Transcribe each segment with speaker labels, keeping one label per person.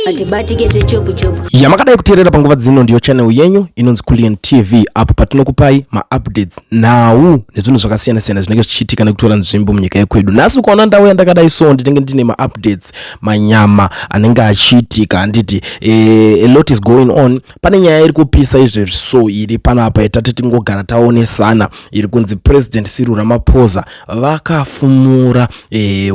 Speaker 1: hatibatike zvechopu chopu yamakadai kuteerera panguva
Speaker 2: dzino ndiyo channel yenyu inonzi kulian tv apo patinokupai maupdates nhau nezvinhu zvakasiyana-siyana zvinenge zvichiitika nekutora nzvimbo munyika yekwedu nhasi ukaona ndau yandakadai so ndinenge ndine maupdates manyama anenge achiitika handiti e, eh, a lot is going on pane nyaya iri kupisa izvezvi so iri pano apa yetati tingogara taonesana iri kunzi president siru ramaphosa vakafumura e,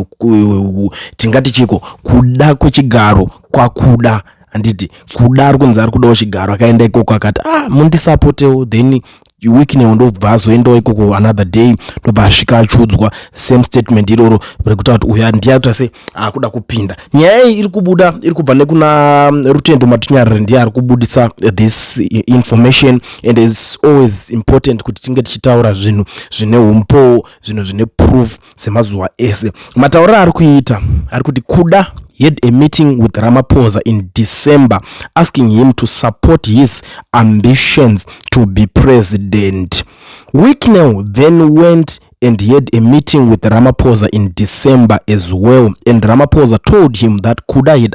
Speaker 2: tingati chiko kuda kwechigaro kwakuda handiti kuda ari kunzi ari kudawo chigaro akaenda ikoko akati ah mundisapotewo then weeknel ndobva azoendawo ikoko another day ndobva asvika achiudzwa same statement iroro rekutaura kuti uyu ndiye akuita se akuda kupinda nyaya iyi iri kubuda iri kubva nekuna mm, rutendo matinyarire ndiye ari kubudisa this information and is always important kuti tinge tichitaura zvinhu zvine umpowo zvinhu zvine proof semazuva ese matauriro aari kuita ari kuti kuda he had a meeting with ramaphosa in december asking him to support his ambitions to be president wicknell then went and he had a meeting with ramaphosa in december as well and ramaphosa told him that kuda had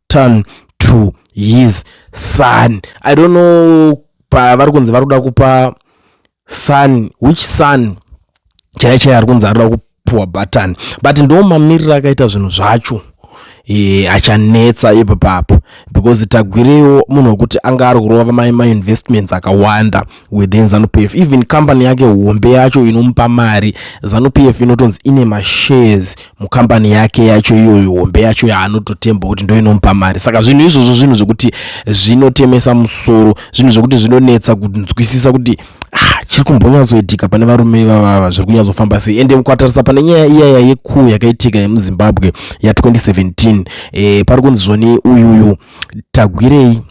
Speaker 2: turn to his son i don't know pavari kunzi vari kuda kupa son which son chaiye chaiye ari kunzi ari kuda kupiwa button but ndo mamiriro akaita zvinhu zvacho e, achanetsa ipo papo because tagwirewo munhu wekuti anga ari kurova mai mainvestments akawanda within zanupf even company yake hombe yacho inomupa mari zanupf inotonzi ine mashares mucompany yake yacho iyoyo hombe yacho yaanototemba kuti ndo inomupa mari saka zvinhu izvozvo zvinhu zvekuti zvinotemesa musoro zvinhu zvekuti zvinonetsa kunzwisisa kuti ah, chiri kumbonyatsoitika pane varume ivavava zviri kunyatsofamba sei ende ukatarisa pane nyaya iyaya yekuu yakaitika yemuzimbabwe ya 2017 e, eh, pari kunzi zvoni uyuyu tagwirei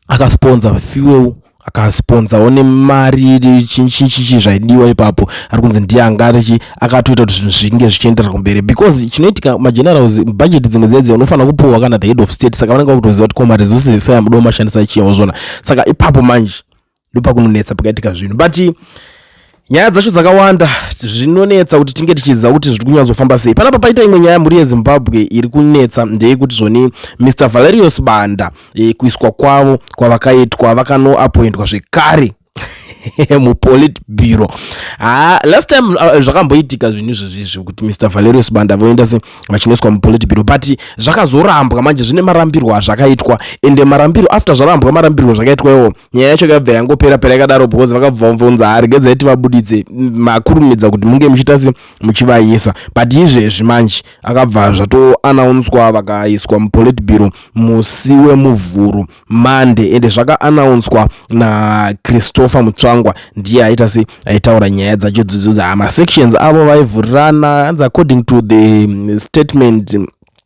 Speaker 2: akasponza fuel akasponzawo nemari chichichi zvaidiwa ipapo ari kunzi ndiye anga arichi akatoita kuti zvinhu zvinge zvichienderera kumberi because chinoitika magenerals budget dzimwe dzedzi unofanira kupuhwa kana the head of state saka vanenge vakutoziva kuti koma resources esaya mudo mashandisa chiyawo zvona saka ipapo manje ndopakunonetsa pakaitika zvinhu but nyaya dzacho dzakawanda zvinonetsa kuti tinge tichiziva kuti zviri kunyatsofamba sei panapa paita imwe nyaya mhuri yezimbabwe iri kunetsa ndeyekuti zvoni mr valerius banda e, kuiswa kwavo kwavakaitwa vakanoapoindwa zvekare mupolit bureau ha ah, last time uh, zvakamboitika zvinhu izvezvizvi kuti mr valerius banda voenda se vachinoiswa mupolit bureau but zvakazorambwa manje zvine marambirwo azvakaitwa ende marambiro after zvarambwa marambirwo zvakaitwa iwo nyaya yacho yakabva yangopera pera yakadaro because vakabva vamvonza hari gedzai tivabuditse makurumidza kuti munge muchiita se muchivayisa but izvezvi manje akabva zvatoanaunswa vakaiswa mupolit biro musi wemuvhuru mande ende zvakaanaunswa nachristopher mutsvangwa ndiye aita se aitaura nyaya dzacho dzidzo dzamasections avo vaivhurirana hanzi according to the statement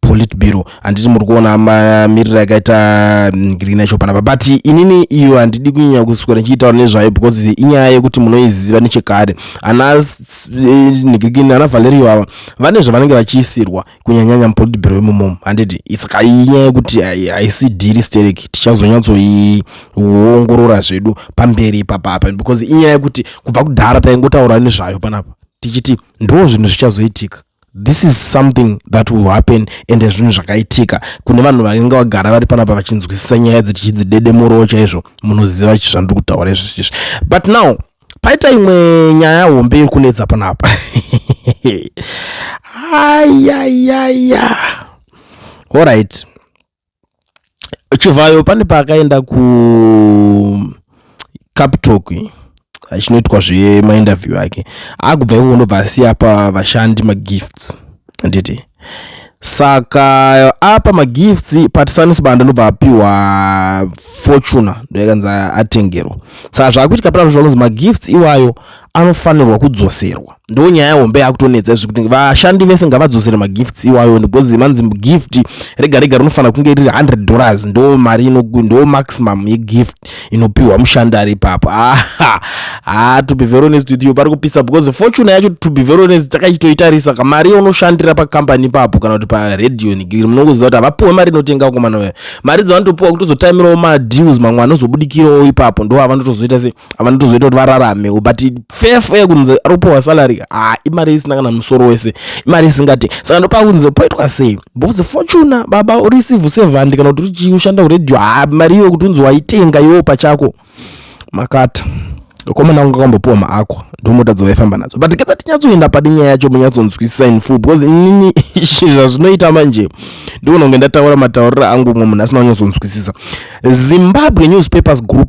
Speaker 2: politburo handiti muri kuona mamiriro yakaita mm, grina chopana babati inini iyo handidi kunyanya kuswera ndichiitaura nezvayo because inyaya yekuti munoiziva nechekare ana eh, negrikin ana valerio ava vane zvavanenge vachiisirwa kunyanyanya mupolitburo imomomo handiti saka inyaya yekuti haisi dhiri sterek tichazonyatsoiongorora zvedu pamberi ipapa apa because inyaya yekuti kubva kudhara taingotaura nezvayo panapa tichiti ndoo zvinhu zvichazoitika this is something that will happen ende zvinhu zvakaitika kune vanhu vainge vagara vari panapa vachinzwisisa nyaya dzichidzidedemuroo chaizvo munoziva chi zvandiri kutaura izvizvizvi but now paita imwe nyaya hombe iri kunetsa panapa ayayaya allright chivhayo pane paakaenda kucaptok achinoitwa zvemainterview ake akubva ivongo ndobva asiya pa vashandi magifts handiti saka apa magifts patisanisi banda ndobva apiwa fortuna ndoyakanzi atengerwa saka zvaakuitika panazvo zvakunzi magifts iwayo anofanirwa kudzoserwa ndo nyaya hombe yakutonetsa izvi kuti vashandi vese ngavadzosere magifts iwayo because manzi gift rega rega rinofanira kunge riri 100 dollars ndo mari ndo maximum yegift inopiwa mushandi ari ipapo aha ah, to be very honest with you pari kupisa because fortune yacho to be very honest takachitoitarisa ka mari unoshandira pacompany ipapo kana kuti paradio nigiri munongoziva kuti havapiwe mari inotenga komana uya mari dzavanotopiwa kutozotaimirawo madeals mamwe anozobudikirawo ipapo ndo avanotozoita se vanotozoita kuti vararamewo but fefo yekunze ari kupiwa salary ha imari isina kana musoro wese imari isingati saka ndopa kunze poitwa sei because fortuna baba ureceive sevhandi kana kuti uchii ushanda kuredio ha mari iyo kuti unzi waitenga iwo pachako makata komana kunge kambopiwa maako ndomota dzovaifamba nadzo but ketsa tinyatsoenda padi nyaya yacho munyatsonzwisisa in full because inini zvazvinoita manje ndikunonge ndataura matauriro angu umwe munhu asina kunyatsoonzwisisa zimbabwe newspapers group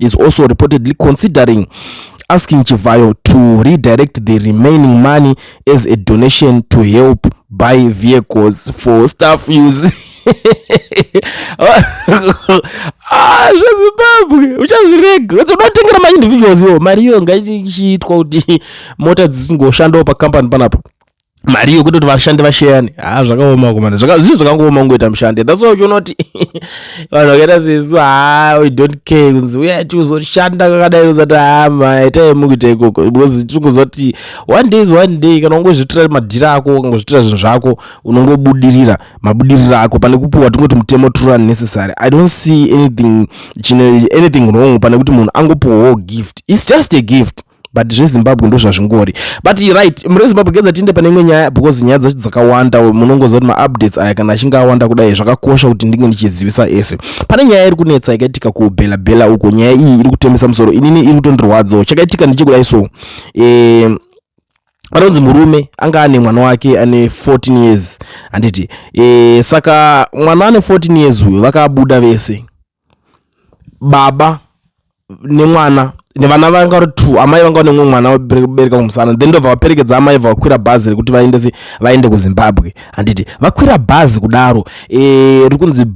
Speaker 2: is also reportedly considering asking Chivhayo to redirect the remaining money as a donation to help buy vehicles for staff use ah, zvezimbabwe uchazvirega unotengira maindividuals yo mari iyo ngaichiitwa kuti mota dzisingoshandawo pacompany panapa mari yokuti kuti vashandi vasheyane ha ah, zvakaoma kumana zvinhu zvakangooma kungoita mushandi thats why uchiona kuti vanhu vakaita sesu ha we don't care kunzi uya tiuzoshanda kakadai uzati hama ah, itai mukuita ikoko because tikungoziva kuti one day is one day kana ungozvitira madhiri ako ukangozvitira zvinhu zvako unongobudirira mabudiriro ako pane kupiwa tingoti mutemo true and necessary i don't see anything chine anything wrong pane kuti munhu angopiwawo gift its just a gift but zvezimbabwe ndo zvazvingori but right mune zimbabwe gedza tiinde pane imwe nyaya because nyaya dzacho dzakawanda munongoziva kuti maupdates aya kana achinge awanda kudai zvakakosha kuti ndinge ndichizivisa ese pane nyaya iri kunetsa yakaitika kubhela bhela uko nyaya iyi iri kutemesa musoro inini iri kutondirwadzawo chakaitika ndichikudai so eh, anonzi murume anga ane mwana wake ane 14 years handiti e, saka mwana ane 14 years uyo vakabuda vese baba nemwana nevana vanga vari two amai vanga vane mumwe mwana vabereka kumusana then ndobva vaperekedza amai bva vakwira bhazi rekuti vaendese vaende kuzimbabwe handiti vakwira bhazi kudaro eh, riri kunzi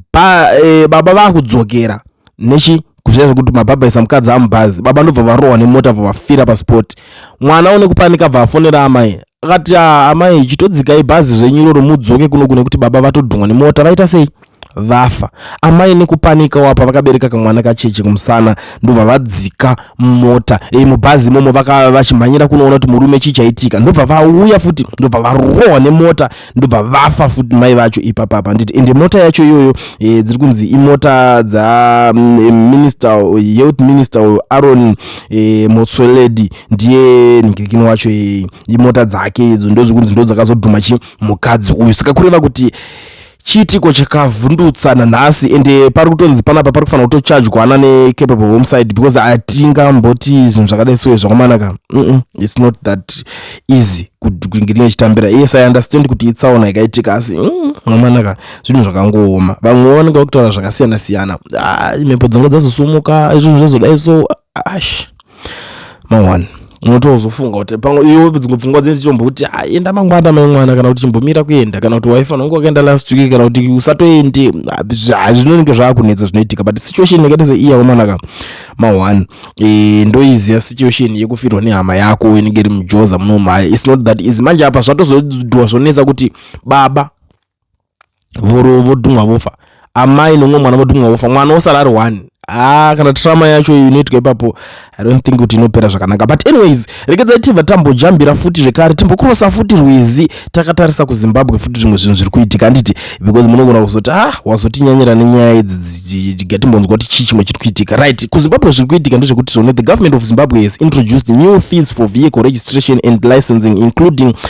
Speaker 2: eh, baba vakudzokera nechi kuzviya zvekuti mabhabha isa mukadzi amubhazi baba ndobva varohwa nemota bva vafira paspoti mwana une kupanika bva afonera amai akati ah, amai chitodzikai bhazi zvenyu iroro mudzoke kuno kune kuti baba vatodhungwa nemota vaita sei vafa. Amai nekupanikawo apa vakabereka kamwana kacheche kumusana ndobva vadzika mumota e, mubhazi imomo vakava vachimhanyira kunoona kuti murume chii chaitika ndobva vauya futi ndobva varohwa nemota ndobva vafa futi mai vacho ipapapa handiti ende mota yacho iyoyo e, dziri kunzi imota dza mm, minister youth minister uyo aron e, motsoledi ndiye ningirikino wacho e, imota dzake idzo ndozvikunzi ndo dzakazodhuma chi mukadzi uyu saka kureva kuti chiitiko chakavhundutsa nanhasi ende pari kutonzi panapa pari kufanira kutochajwana necapable homeside because hatingamboti zvinhu zvakadai soye zvakumanaka mm its not that easy kuingirinye chitambira yes i understand kuti itsaona ikaitika asi mm, mwamanaka mm, zvinhu zvakangooma vamwe vanenge vakutaura zvakasiyana siyana ah, mhepo dzanga dzazosumuka izvozvo zvazodai so ash mawana unotozofunga kuti pamwe iwe dzimwe pfungwa dzinenge dzichitomboti ah, enda mangwana mai mwana kana kuti chimbomira kuenda kana kuti waifanira kunge wakaenda last week kana kuti usatoende ah, zvinonenge zvaakunetsa zvinoitika but situation yakaita seiya wamwanaka ma one e, ndoiziva situation yekufirwa nehama yako inenge iri mujoza munomhaya its not that easy manje apa zvatozodwa zvonetsa kuti baba voro vodhumwa vofa amai nomwe mwana vodhumwa vofa mwana osara ari one haa kana trauma yacho iyo inoitwa ipapo i don't think kuti inopera zvakanaka but anyways regedzai tibva tambojambira futi zvekare timbokrosa futi rwizi takatarisa kuzimbabwe futi zvimwe zvinhu zviri kuitika handiti because munogona kuzoti ah wazotinyanyira nenyaya idzi gatimbonzwa kuti chii chimwe chiri kuitika right kuzimbabwe zviri kuitika ndezvekuti zvone the government of zimbabwe has introduced new fees for vehicle registration and licensing including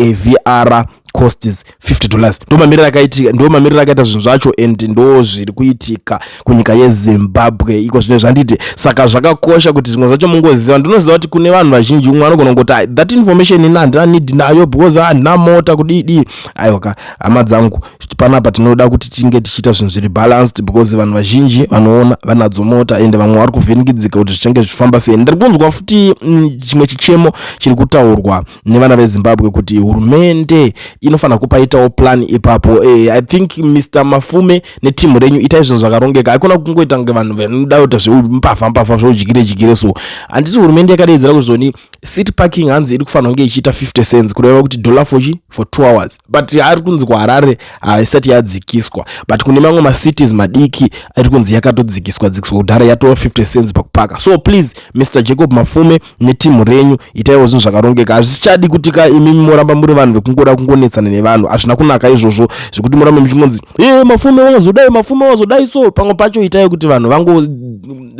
Speaker 2: avr costs 50 dollars ndo mamiriro akaitika ndo mamiriro akaita zvinhu zvacho and ndo zviri kuitika kunyika yezimbabwe iko zvine zvanditi saka zvakakosha kuti zvimwe zvacho mungoziva ndinoziva kuti kune vanhu vazhinji umwe anogona kungoti ah, that information ini handina need nayo because handina mota kudidii aiwaka hama dzangu panapa tinoda kuti tinge tichiita zvinhu zviri balanced because vanhu vazhinji vanoona vanadzo mota and vamwe vari kuvhinikidzika kuti zvichange zvichifamba sei ndiri kunzwa futi mm, chimwe chichemo chiri kutaurwa nevana vezimbabwe kuti hurumende inofanira kupaitawo plan ipapo e, i think mr mafume netimu renyu itai zvinhu zvakarongeka haikona kungoita kunge vanhu vanoda kuita zveumbavha mbavha zvoudyire dyire so handiti hurumende yakadaidzira kuzoni city parking hanzi iri kufanira kunge ichiita 50 cents kureva kuti dollar fochi for two hours but ari kunzi kuharare haisati yadzikiswa but kune mamwe macities madiki ari kunzi yakatodzikiswa dzikiswa kudhara yatova 50 cents pakupaka so please mr jacob mafume neteam renyu itaiwo zvinhu zvakarongeka hazvichadi kuti ka imimi moramba muri vanhu vekungoda kungonetsana nevanhu hazvina kunaka izvozvo zvekuti morambe muchingonzi e mafume wazodai mafume wazodai so pamwe pacho itai kuti vanhu vango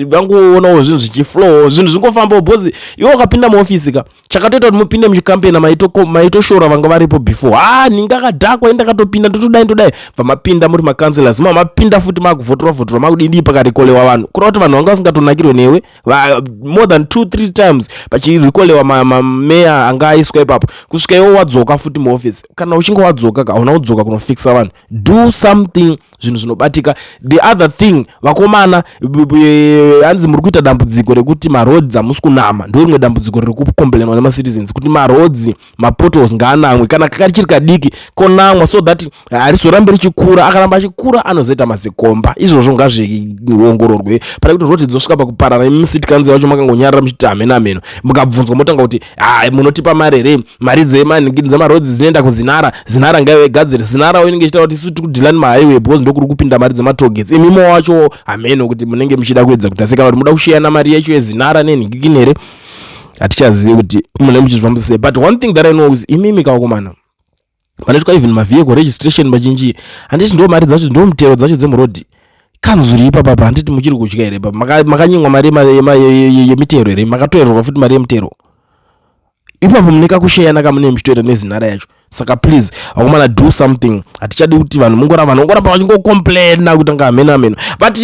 Speaker 2: vangoonawo zvinhu zvichiflow zvinhu zvingofambawo bhozi iwe ukapinda muofisi ka chakatoita kuti mupinde muchikampena maitoshora vanga varipo before ha ninge akadhakwa indakatopinda ndotodai ndodai vamapinda muri macounselors mamapinda futi maakuvhotorwa vhotorwa makudidii pakarekolewa vanhu kureva kuti vanhu vanga vasingatonakirwe newe Va, more than two three times vachirekolewa mameya anga aiswa ipapo kusvika iwo wadzoka futi muoffice kana uchinge wadzoka ka hauna kudzoka kunofixa vanhu do something zvinhu zvinobatika the other thing vakomana hanzi muri kuita dambudziko rekuti maroads hamusi kunama ndo rimwe dambudziko riri kukomblenwa nemacitizens kuti maroads mapotos ngaanamwe kana kachiri kadiki konamwa so that harizorambi ah, richikura akaramba achikura anozoita mazikomba izvozvo ngazviongororwe pane kuti zvoti dzinosvika pakuparana imi musiti kanzi vacho makangonyarira muchiti hamena meno mukabvunzwa motanga kuti ha ah, munotipa mari here mari dzemarodzi dzinoenda kuzinara zinara ngaive gadziri zinarawo inenge ichitaura kuti isu tiri kudhilani mahighway because ndokuri kupinda mari dzematogets imimo wacho hameno kuti munenge muchida kuedza kuti asi kana kuti muda kusheyana mari yacho yezinara nenhingikini here hatichazivi kuti mune muchizvifambisa sei but one thing that i know is imimi kawakomana panoitwa even mavehicle registration mazhinji handiti ndo mari dzacho ndo mutero dzacho dzemurodhi kanzuri ipapa pa handiti muchiri kudya here pa makanyimwa mari yemitero here makatoererwa futi mari yemutero ipapo mune kakusheyana kamune muchitoita nezinhara yacho saka please akomana do something hatichadi kuti vanhu mungoramba vanongoramba vachingocomplaina kuti anga hameno hameno but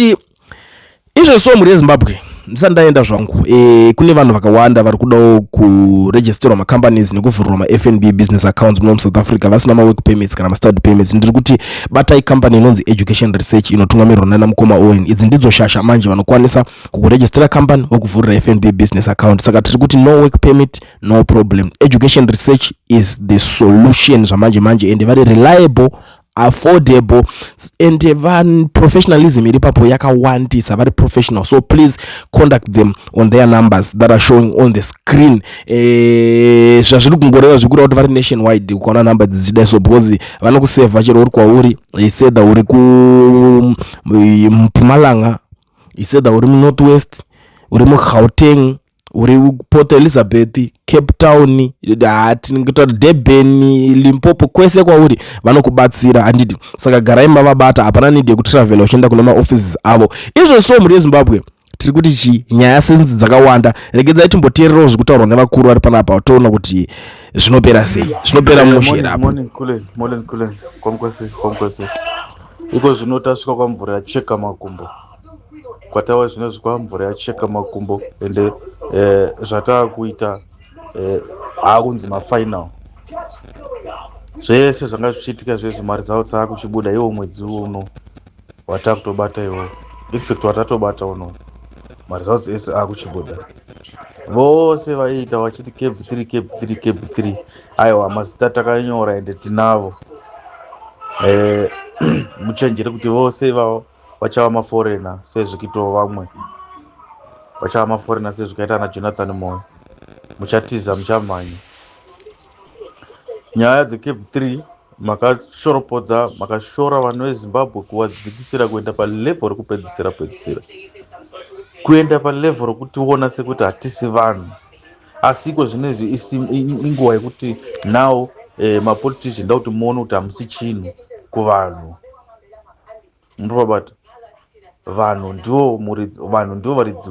Speaker 2: izvozvi so mhuri yezimbabwe ndisati ndaenda zvangu e, kune vanhu vakawanda vari kudawo kuregisterwa macompanies nekuvhurwa mafnb business accounts muno musouth africa vasina mawork permits kana mastad permits ndiri kuti batai company inonzi education research inotungamirwa nana mukoma owen idzi ndidzo shasha manje vanokwanisa kukuregistera company vokuvhurira fnb business account saka tiri kuti no work permit no problem education research is the solution zvamanje manje ende vari reliable affordable and van professionalism iri papo yakawandisa vari professional so please contact them on their numbers that are showing on the screen eh, zvazviri kungoreva zvikureva kuti vari nation wide ukaona number dzichida so because vanokuseva chero uri kwauri eh, sedha uri kumpumalanga eh, it's either uri munorth west uri mugauteng uri port elizabeth cape town tingotaura durban limpopo kwese kwauri vanokubatsira handiti saka garai mavabata hapana need yekutravela uchienda kune maoffices avo izvo so mhuri yezimbabwe tiri kuti chi nyaya senzi dzakawanda regedzai timboteererawo zviri kutaurwa nevakuru vari panapa toona kuti zvinopera sei zvinopera mushera apo
Speaker 3: Iko zvino tasvika kwamvura yacheka makumbo kwatawa zvino zvikwa mvura yacheka makumbo ende eh, zvataakuita eh, aakunzi mafinal zvese zvanga zvichiitika zvezvo mari dzavo dzaakuchibuda iwo mwedzi uno wataakutobata iwo infact watatobata uno mari dzavo dzese aakuchibuda vose vaiita vachiti cab three cab three cab three Aiwa mazita takanyora ende tinavo eh, muchenjere kuti vose ivavo vachava maforena sezvikitawo vamwe vachava maforena sezvikaita ana jonathan moyo muchatiza muchamhanya nyaya dzecape three makashoropodza makashora vanhu vezimbabwe kuvadzikisira kuenda palevho rekupedzisira pedzisira kuenda palevho rokutiona sekuti hatisi vanhu Asiko zvinezvi inguva yekuti now eh, mapolitician ndokuti muone kuti hamusi chinhu kuvanhu muripabata vanhu ndivo vanhu ndivo varidzi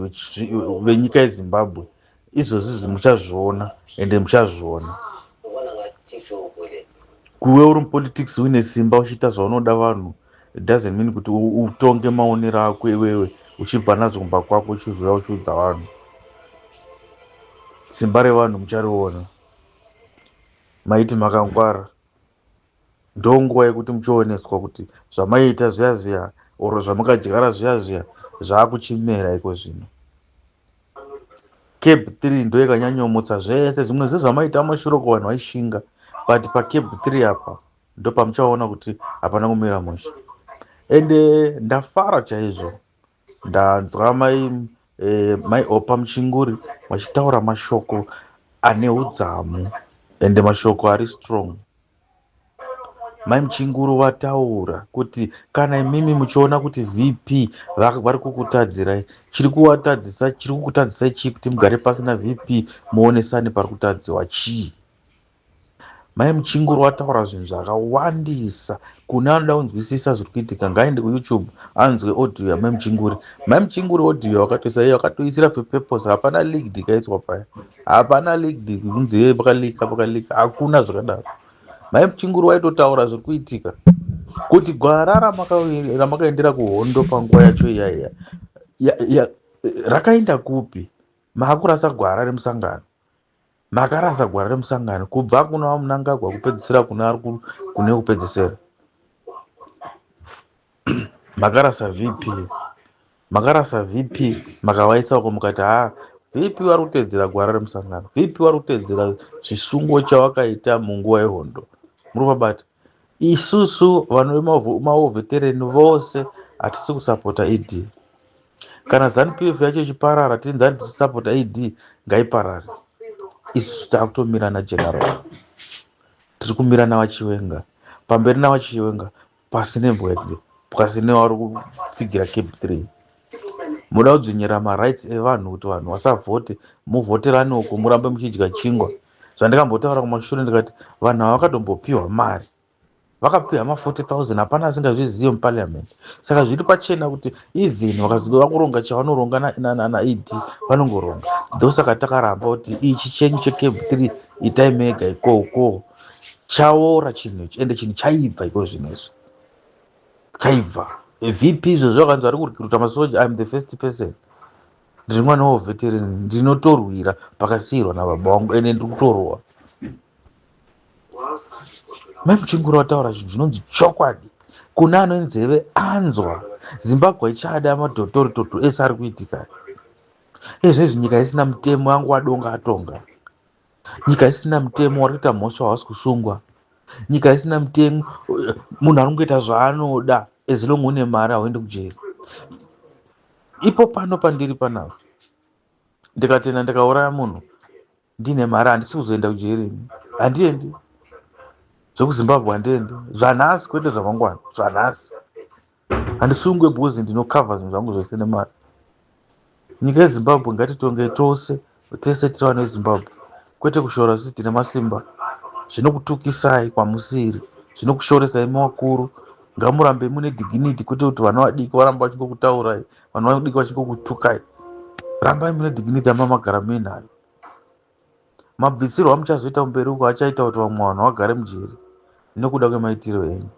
Speaker 3: venyika yezimbabwe izvozvizvi muchazviona ende muchazviona kuve uri mupolitics uine simba uchiita zvaunoda vanhu It doesn't mean kuti utonge maonero ako iwewe uchibva nazo kumba kwako uchizouya uchiudza vanhu. Simba revanhu muchariona. Maiti makangwara. Ndo nguva yekuti muchioneswa kuti zvamaiita zviya zviya or zvamakadyara zviya zviya zvakuchimera iko zvino. Cab 3 ndo yakanyanyomutsa zvese zvimwe zvezvamaita mashuroko vanhu vaishinga but pacab 3 apa ndopamuchaona kuti hapana kumira mushe ende ndafara chaizvo ndanzwa mai eh, mai opa muchinguri vachitaura mashoko ane udzamu ende mashoko ari strong mai muchinguru vataura kuti kana imimi muchiona kuti vp vari kukutadzirai chiri kuvatadzisa chiri kukutadzisai chii kuti mugare pasi navp muonesane pari kutadziwa chii Mai Muchinguru vataura zvinhu zvakawandisa. Kune anoda kunzwisisa zviri kuitika ngaaende kuYoutube anzwe audio yaMai Muchinguri. Mai Muchinguri audio vakatoisa iyo vakatoisira purpose hapana leaked ikaiswa paya. Hapana leaked kunzi hey pakaleaka pakaleaka hakuna zvakadaro. Mai Muchinguri vaitotaura zviri kuitika kuti gwara ramakaendera kuhondo panguva yacho iyaiya rakaenda kupi makurasa gwara remusangano makarasa gwara remusangano kubva kuna vamunangagwa kupedzisira kune ari kune kupedzisira makarasa vp makarasa vp makavaisako mukati haa vp vari kutedzera gwara remusangano vp vari kutedzera chisungo chawakaita munguva yehondo muri vabati Isusu vanhu vemaovetereni vose hatisi kusapota ED. Kana ZanuPF yacho ichiparara tinzi hatisi sapota ED ngaiparare. Isusu takutomira naGeneral. Tiri kumira navachiwenga. Pamberi navachiwenga pasi nembwedwe pasi nevari kutsigira cap 3 muda kudzvinyira marights evanhu kuti vanhu vasavhote muvhoterane uko murambe muchidya chingwa zvandakambotaura kumashure ndikati vanhu ava vakatombopiwa mari vakapiwa ma 40000 hapana asingazvizive muparliament saka zviri pachena kuti even vakazoda kuronga chavanoronga naed vanongoronga ndosaka takaramba kuti ichi chenyu checab 3 itai mega ikoko chaora chinhu ichi ende chinhu chaibva iko zvinezvi chaibva vp izvozvo vakanzi vari kurikiruta masoja im the first person ndiri mwana weveterini ndinotorwira pakasiirwa nababa wangu ende ndiri kutorowa mai muchingura wataura zvinhu zvinonzi chokwadi kune ano nzeve anzwa zimbabwe ichada madotoritoto ese ari kuitika ezvezvi nyika isina mutemo yangu wadonga atonga nyika isina mutemo vari kuita mhosva havasi kusungwa nyika isina mutemo munhu ari kungoita zvaanoda as long une mari hauendi kujeri ipo pano pandiri panapa ndikatenda ndikauraya munhu ndine mari handisi kuzoenda kujeri ini handiendi zvekuzimbabwe handiendi zvanhasi kwete zvamangwana zvanhasi handisungwe because ndinocover zvinhu zvangu zvese nemari nyika yezimbabwe ngatitonge tose tese tiri vana vezimbabwe kwete kushora zvisi tine masimba zvinokutukisai kwamusiri zvinokushoresai mavakuru ngamurambe mune dignity kwete kuti vana vadiki varamba vachingokutaurai vana vadiki vachingokutukai rambai mune dignity amba magara muinayo Mabvisirwo amuchazoita kumberi uko achaita kuti vamwe vanhu vagare mujeri nekuda kwemaitiro enyu.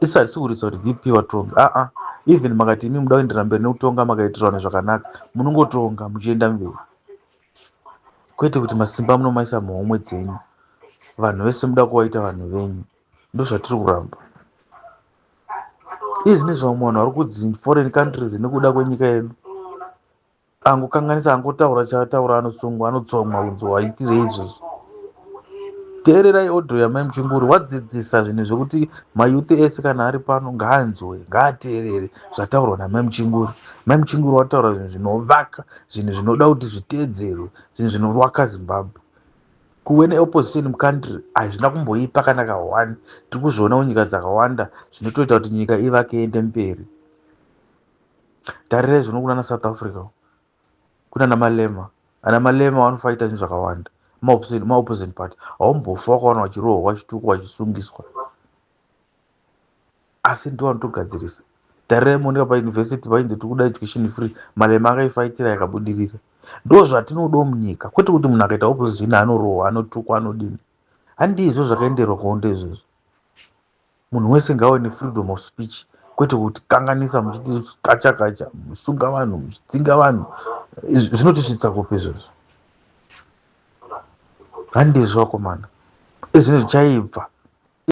Speaker 3: Isi hatisi kuritsa kuti VP vatonge, aa ah, ah. even makati imi muda kuenderera mberi nekutonga makaitira vanhu zvakanaka munongotonga muchienda mberi kwete kuti masimba munomaisa muhomwe dzenyu vanhu vese muda kuvaita vanhu venyu ndozvatiri kuramba izvi nezvamwe vanhu vari kudzi foreign countries nekuda kwenyika yedu angokanganisa angotaura chaataura anosungwa anotsomwa kunzi waitirei izvozvo teererai odho yamai muchinguri wadzidzisa zvinhu zvekuti mayuthi ese kana ari pano ngaanzwe ngaateerere zvataurwa namai muchinguri mai muchinguri wataura zvinhu zvinovaka zvinhu zvinoda kuti zviteedzerwe zvinhu zvinovaka zimbabwe kuve neopposition mucountry hazvina kumboipa kana kahwani tiri kuzviona kunyika dzakawanda zvinotoita kuti nyika ivake iende mberi tarirai zvino kunana south africa kunana malema ana malema vanofaita zvinhu zvakawanda maopposite party haumbofa wakawana vachirohwa vachitukwa vachisungiswa asi ndiwo anotogadzirisa tarirai monika pauniversity vainzi tiri kuda education free malema akaifaitira yakabudirira ndo zvatinodo munyika kwete kuti munhu akaita opposition anorohwa anotukwa anodini handizvo zvakaenderwa kuhondo izvozvo Munhu wese ngawe nefreedom of speech kwete kutikanganisa muchiti kacha kacha musunga vanhu muchidzinga vanhu zvinotisvitsa kupi izvozvo handizvo vakomana ezvino zvichaibva